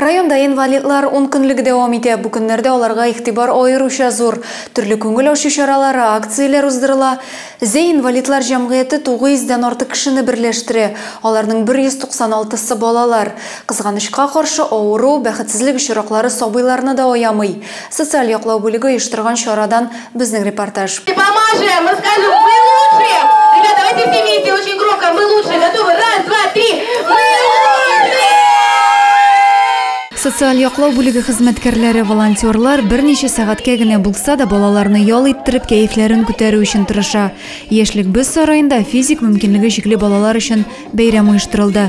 Районда инвалидлар ункөнлеге дәвам итә. Бу көннәрдә аларга игътибар аеруча зур. Төрле күңел ачу чаралары, акцияләр уздырыла. Зәй инвалидлар җәмгыяте 900 дән артык кешене берләштерә. Аларның 196 сы балалар. Кызганычка каршы, авыру, бәхетсезлек очраклары сабыйларны да аямый. Социаль яклау бүлеге оештырган чарадан безнең репортаж. Помажем, расскажем, мы лучшие! Ребята, давайте все вместе, очень громко, мы лучшие, готовы? Раз, два, три, мы лучшие! Социаль яклау бүлеге хезмәткәрләре, волонтерлар берничә сәгатькә генә булса да балаларны ял иттереп, кәефләрен күтәрү өчен тырыша. Яшьлек без сараенда физик мөмкинлеге чикле балалар өчен бәйрәм оештырылды.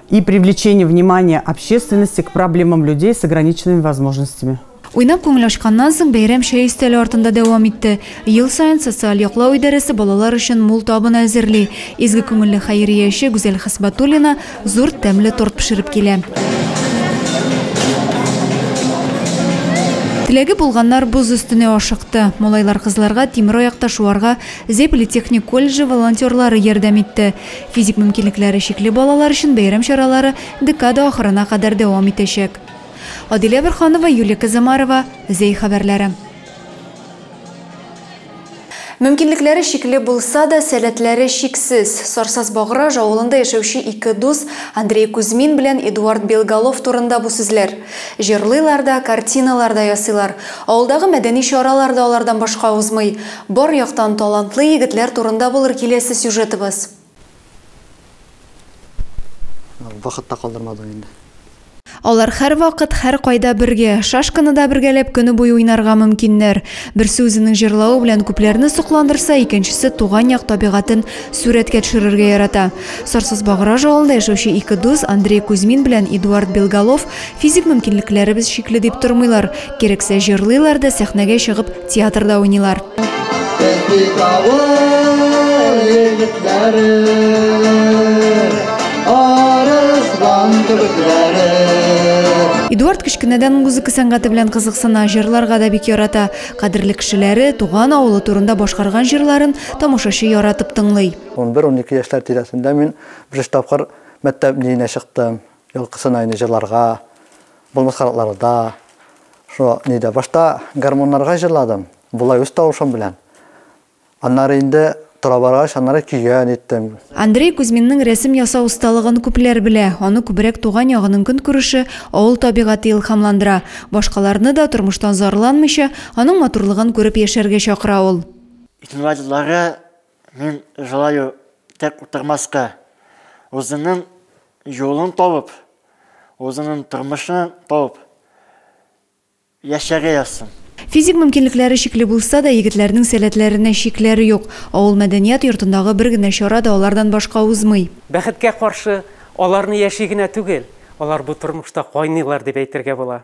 и привлечение внимания общественности к проблемам людей с ограниченными возможностями. Уйнап күңел ачканнан соң бәйрәм чәй өстәле артында дәвам итте. Ел саен социаль яклау идарәсе балалар өчен мул табын әзерли. Изге күңелле хәйрия эше Гүзәл Хисбатуллина зур тәмле торт пешереп килә. Теләге булганнар боз өстенә ашыкты. Малайлар кызларга тимер аякта шуарга Зепли техник колледжы волонтерлары ярдәм итте. Физик мөмкинлекләре чикле балалар өчен бәйрәм чаралары декада ахырына кадәр дәвам итәчәк. Адилә Борханова, Юлия Казамарова, Зәй хәбәрләре. Мөмкинлекләре чикле булса да, сәләтләре чиксез. Сарсаз Баграж авылында яшәүче ике дус, Андрей Кузьмин белән Эдуард Белголов турында бу сүзләр. Җырлыйлар да, картиналар да ясыйлар. Авылдагы мәдәни чаралар да алардан башка узмый. Бар яктан талантлы егетләр турында булыр киләсе сюжетыбыз. Вакыт та калдырмадың инде. Алар һәрвакыт, һәркайда бергә. Шашканы да бергәләп көне буе уйнарга мөмкиннәр. Берсе үзенең җырлавы белән күпләрне сокландырса, икенчесе туган як табигатен сурәткә төшерергә ярата. Сарсызбаграж авылында яшәүче ике дус, Андрей Кузьмин белән Эдуард Белголов, Физик мөмкинлекләребез чикле дип тормыйлар. Кирәксә җырлыйлар да, сәхнәгә чыгып, театрда уйныйлар. Эдуард кечкенәдән музыка сәнгате белән кызыксына, җырларга да бик ярата. Кадерле кешеләре, туган авылы турында башкарган җырларын тамашачы яратып тыңлый. 11-12 яшьләр тирәсендә мин беренче тапкыр мәктәп биенә чыктым. Елкы сынайны җырларга, булмас канатларда, шо нидә. Башта гармуннарга җырладым, болай үз тавышым белән. Аннары инде тора баргач, аннары көйгә ниттем. Андрей Кузьминның рәсем ясау осталыгын күпләр белә. Аны күбрәк туган ягының көнкүреше, авыл табигате илһамландыра. Башкаларны да, тормыштан зарланмыйча, аның матурлыгын күреп яшәргә чакыра ул. Итмадлары Мин желаю тек утырмаска, узының юлын табып, узының тормышын табып яшәргә язсын. Физик мөмкинлекләре чикле булса да, егетләрнең сәләтләренә чикләр юк. Авыл мәдәният йортындагы бер генә чара да алардан башка узмый. Бәхеткә каршы, аларны яши генә түгел, алар бу тормышта кайныйлар дип әйтергә була.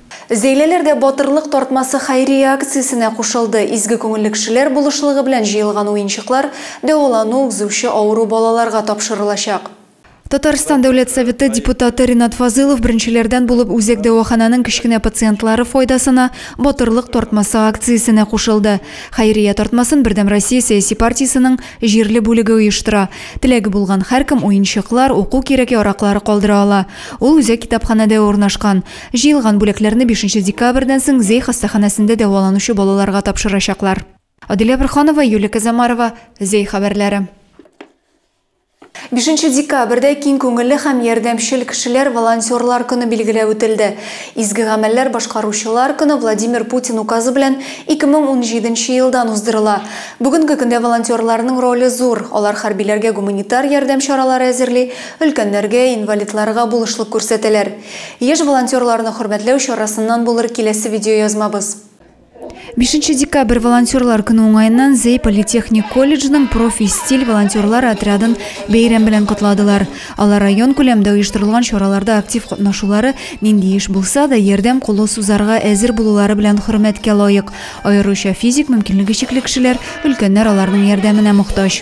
Зәйлеләр дә Батырлык тартмасы хәйрия акциясенә кушылды. Изге күңелле кешеләр булышлыгы белән җыелган уенчыклар дәвалану узучы авыру балаларга тапшырылачак. Татарстан Дәүләт Советы депутаты Ринат Фазылов беренчеләрдән булып үзәк дәваханәнең кечкенә пациентлары файдасына Батырлык тартмасы акциясенә кушылды. Хәйрия тартмасын Бердәм Россия сәяси партиясенең җирле бүлеге оештыра. Теләге булган һәркем уенчыклар, уку кирәк-яраклары калдыра ала. Ул үзәк китапханәдә урнашкан. Җыелган бүләкләрне бишенче декабрьдән соң Зей хастаханәсендә дәваланучы балаларга тапшырачаклар. Аделя Борханова, Юлия Казамарова, Зей хәбәрләре. Бишенче декабрьдә киң күңелле һәм ярдәмчел кешеләр, волонтерлар көне билгеләп үтелде. Изге гамәлләр башкаручылар көне Владимир Путин указы белән 2017 нче елдан уздырыла. Бүгенге көндә волонтерларның роле зур, алар хәрбиләргә гуманитар ярдәм чаралары әзерли, өлкәннәргә, инвалидларга булышлык күрсәтәләр. Яшь волонтерларны хөрмәтләү чарасыннан булыр киләсе видеоязмабыз. Бишенче декабрь волонтерлар көне уңаеннан Зәй политехник колледжының Профи-стиль волонтерлар отрядын бәйрәм белән котладылар. Алар район күләмдә оештырылган чараларда актив катнашулары, нинди эш булса да, ярдәм кулы сузарга әзер булулары белән хөрмәткә лаек. Аеруча физик мөмкинлеге чикле кешеләр, өлкәннәр аларның ярдәменә мохтаҗ.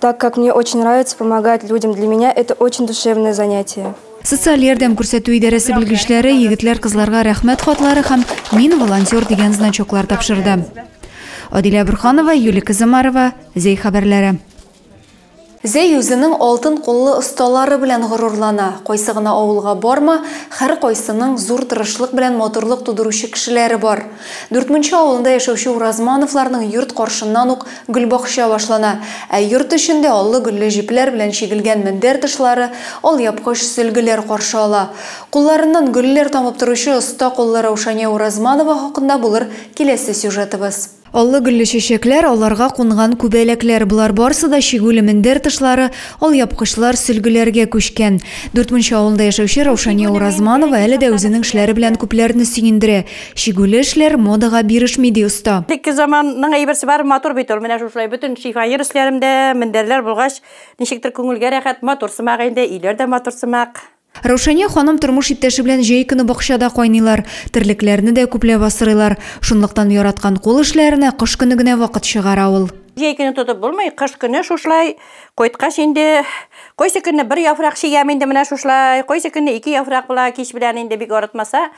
Так как мне очень нравится помогать людям, для меня это очень душевное занятие. Социаль ярдәм күрсәтү идарәсе белгечләре егетләр-кызларга рәхмәт хатлары һәм Мин волонтер дигән значоклар тапшырды. Адилә Бурханова, Юлия Казамарова, Зәй хәбәрләре. Зәй үзенең алтын куллы осталары белән горурлана. Кайсы гына авылга барма, хәр кайсының зур тырышлык белән матурлык тудыручы кешеләре бар. Дүртмунча авылында яшәүче Уразмановларның йорт каршыннан ук Гөлбакча башлана. Ә йорт эчендә аллы-гөлле җепләр белән чигелгән мендәр тышлары, алъяпкыч сөлгеләр каршы ала. Кулларыннан гөлләр тамып торучы оста куллы Раушания Уразманова хакында булыр киләсе сюжетыбыз. Аллы-гөлле чәчәкләр, аларга кунган күбәләкләр, болар барысы да чигүле мендәр тышлары, алъяпкычлар, сөлгеләргә күчкән. Дүрт Мунча авылында яшәүче Раушания Уразманова әле дә үзенең эшләре белән күпләрне сөендерә. Чигүле эшләр модага бирешми, ди оста. Элекке заманның әйберсе бар, матур бит ул. Менә шушылай бөтен шифоньер өсләрем дә, мендәрләр булгач, ничектер күңелгә рәхәт, матур сымак инде, өйләр дә матур сымак. Раушания ханым тормыш иптәше белән җәй көне бакчада кайныйлар, терлекләрне дә күпләп асрыйлар. Шунлыктан яраткан кул эшләренә кыш көне генә вакыт чыгара ул. Җәй көне тотып булмый, кыш көне шушылай кайткач инде, кайсы көнне бер яфрак чигәм инде, менә шушылай, кайсы көнне ике яфрак була, кич белән инде бик арытмаса.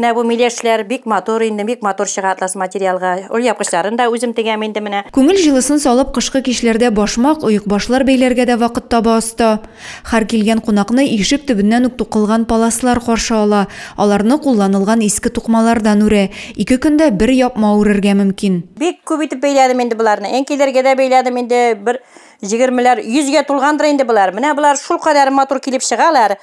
Менә бу миләшләр бик матур инде, бик матур чыга атлас материалга. Ул япкычларын да үзем тегәм инде менә. Күңел җылысын салып кышкы кичләрдә башмак, оекбашлар бәйләргә дә вакыт таба оста. Хәр килгән кунакны ишек төбеннән үк тукылган паласлар каршы ала, аларны кулланылган иске тукмалардан үрә, ике көндә бер япма үрергә мөмкин. Бик күп итеп бәйләдем инде боларны, әнкәйләргә дә бәйләдем инде, бер җегермеләр, йөзгә тулгандыр инде болар. Менә болар шулкадәр матур килеп чыгалар.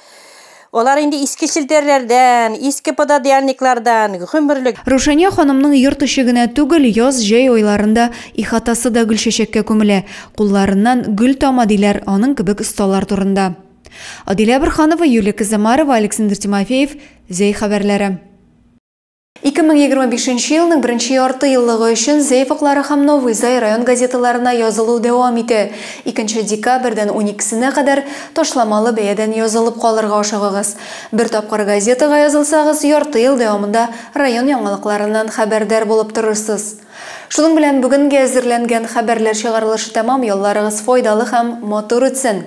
Алар инде иске челтәрләрдән, иске пододеяльниклардан, гомерлек. Рушания ханымның йорт эче генә түгел, яз-җәй айларында ихатасы да гөлчәчәккә күмелә. Кулларыннан гөл тама, диләр аның кебек осталар турында. Адилә Борханова, Юлия Кызамарова, Александр Тимофеев, Зәй хәбәрләре. 2025 нче елның беренче ярты еллыгы өчен Зәй факлары һәм Новый Зай район газеталарына язылу дәвам итә. Икенче декабрьдән уникесенә кадәр ташламалы бәядән язылып калырга ашыгыгыз. Бер тапкыр газетага язылсагыз, ярты ел дәвамында район яңалыкларыннан хәбәрдар булып торырсыз. Шуның белән бүгенгә әзерләнгән хәбәрләр чыгарылышы тәмам, ялларыгыз файдалы һәм матур үтсен!